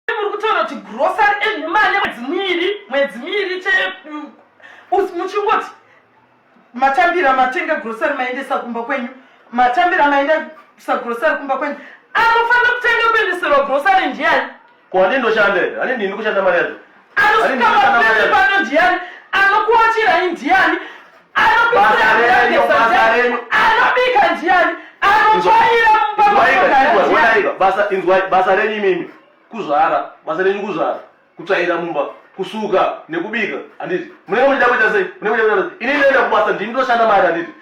muri kutaura kuti grocery enhuma ane mwedzi miviri mwedzi miviri che muchingoti matambira matenga grocery maendesa kumba kwenyu matambira maendesa grocery kumba kwenyu anofanira kutanga kuendeserwa grocery ndiani ko ane ndoshanda here ane ndini kushanda mari yacho anosikaaanodiyani anokuachirai ndiyani anobika ndiyani anotsvaira mubasa renyu imimi kuzvara basa renyu kuzvara kutsvaira mumba kusuka nekubika handiti munenge muchida kuita sei munenge muchida kuita sei ini ndinoenda kubasa ndini ndoshanda mari handiti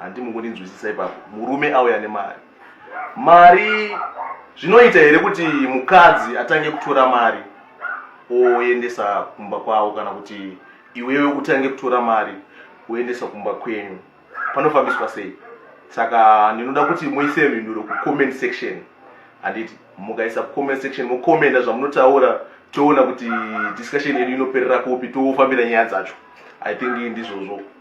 handi mukundinzwisisa ipapo murume auya nemari mari zvinoita here kuti mukadzi atange kutora mari oendesa kumba kwavo kana kuti iwewe utange kutora mari oendesa kumba kwenyu panofambiswa sei saka ndinoda kuti muise mhinduro kucomment section handiti mukaisa kucomment section mokomenda zvamunotaura toona kuti discussion yedu inoperera kupi tofambira nyaya dzacho i think ndizvozvo